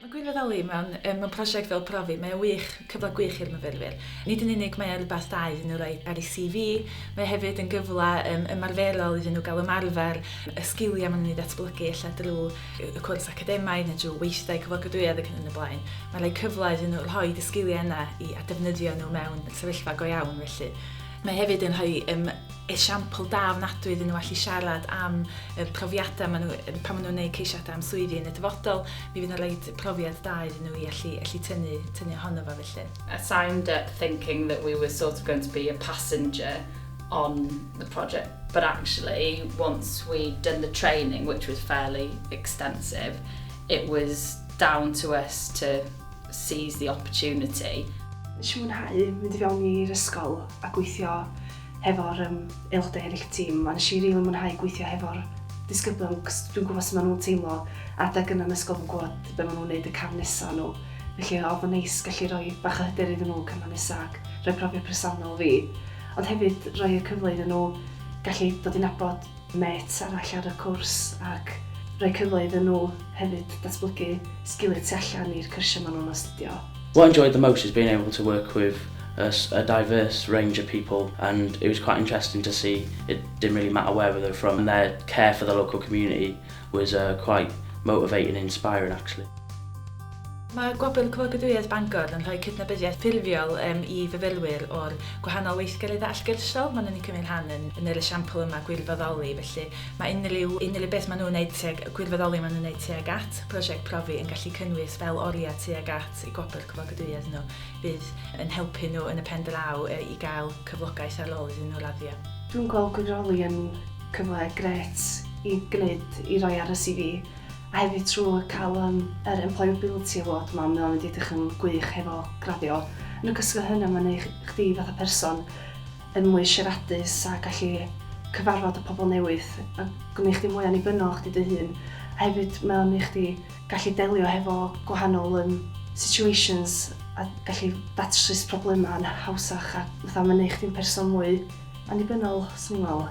Mae Gwynfor Elli mewn yym mewn prosiect fel profi mae o wych, cyfle gwych i'r myfyrwyr. Nid yn unig mae o rwbath da iddyn nhw roi ar eu CV, mae o hefyd yn gyfle yym ymarferol iddyn nhw ga'l ymarfer y sgilia ma' nw'n eu datblygu ella drw yy y cwrs academaidd ne' drw weithdai cyflogadwyedd ac yn y blaen. Ma'n roi cyfle iddyn nhw rhoid y sgilie yna i a defnyddio nhw mewn sefyllfa go iawn felly. Mae hefyd yn rhoi yym esiampl da ofnadwy iddyn nhw allu siarad am y profiadau maen nhw, pan maen nhw'n gwneud ceisiadau am swyddi yn y dyfodol, mi fydd yn rhoi profiad da iddyn nhw i allu, allu tynnu, tynnu ohono fo felly. I signed up thinking that we were sort of going to be a passenger on the project but actually once we'd done the training which was fairly extensive it was down to us to seize the opportunity. Nes i fwynhau mynd i fewn i'r ysgol a gweithio hefo'r yym aelodau eraill y tîm, a nes i rili mwynhau gweithio hefo'r disgyblion cos dwi'n gwybod sut maen nhw'n teimlo, adeg yna yn ysgol fi'n gwybod be maen nhw'n neud y cam nesa nhw, felly oedd yn neis gallu rhoi bach o hyder iddyn nhw cyfnod nesa ac rhoi profiad presennol fi, ond hefyd rhoi y cyfle iddyn nhw gallu dod i nabod mêts arall ar y cwrs ac rhoi cyfle iddyn nhw hefyd datblygu sgiliau tu allan i'r cyrsiau maen nhw'n astudio. What I enjoyed the most is being able to work with a diverse range of people and it was quite interesting to see it didn't really matter where they were from and their care for the local community was uh, quite motivating and inspiring actually. Mae Gwobr Coedwigoedd Bangor yn rhoi cydnabyddiaeth ffurfiol um, i fyfyrwyr o'r gwahanol weithgareddau allgyrsiol maen nhw'n ei cymryd rhan yn, yn yr esiampl yma gwirfoddoli, felly Mae unrhyw, unrhyw beth maen nhw'n wneud tuag, y gwirfoddoli maen nhw'n wneud tuag at prosiect profi yn gallu cynnwys fel oriau tuag at eu gwobr cyflogadwyedd nhw, fydd yn helpu nhw yn y pen draw i gael cyflogaeth ar ôl iddyn nhw raddio. Dwi'n gweld gwirfoddoli yn cyfle grêt i gwneud, i roi ar y CV, a hefyd trwy cael yym yr Employability Award 'ma, mae o'n mynd i edrych yn gwych hefo graddio. Yn ogystal â hynna mae'n neu' chdi fatha person yn mwy siaradus a gallu cyfarfod y pobl newydd a gwneud chdi mwy annibynnol o chdi dy hun a hefyd mae o'n neu chdi gallu delio hefo gwahanol yym situations a gallu datrys problemau yn hawsach a fatha mae'n neu chdi'n person mwy annibynnol 'swn i'n meddwl.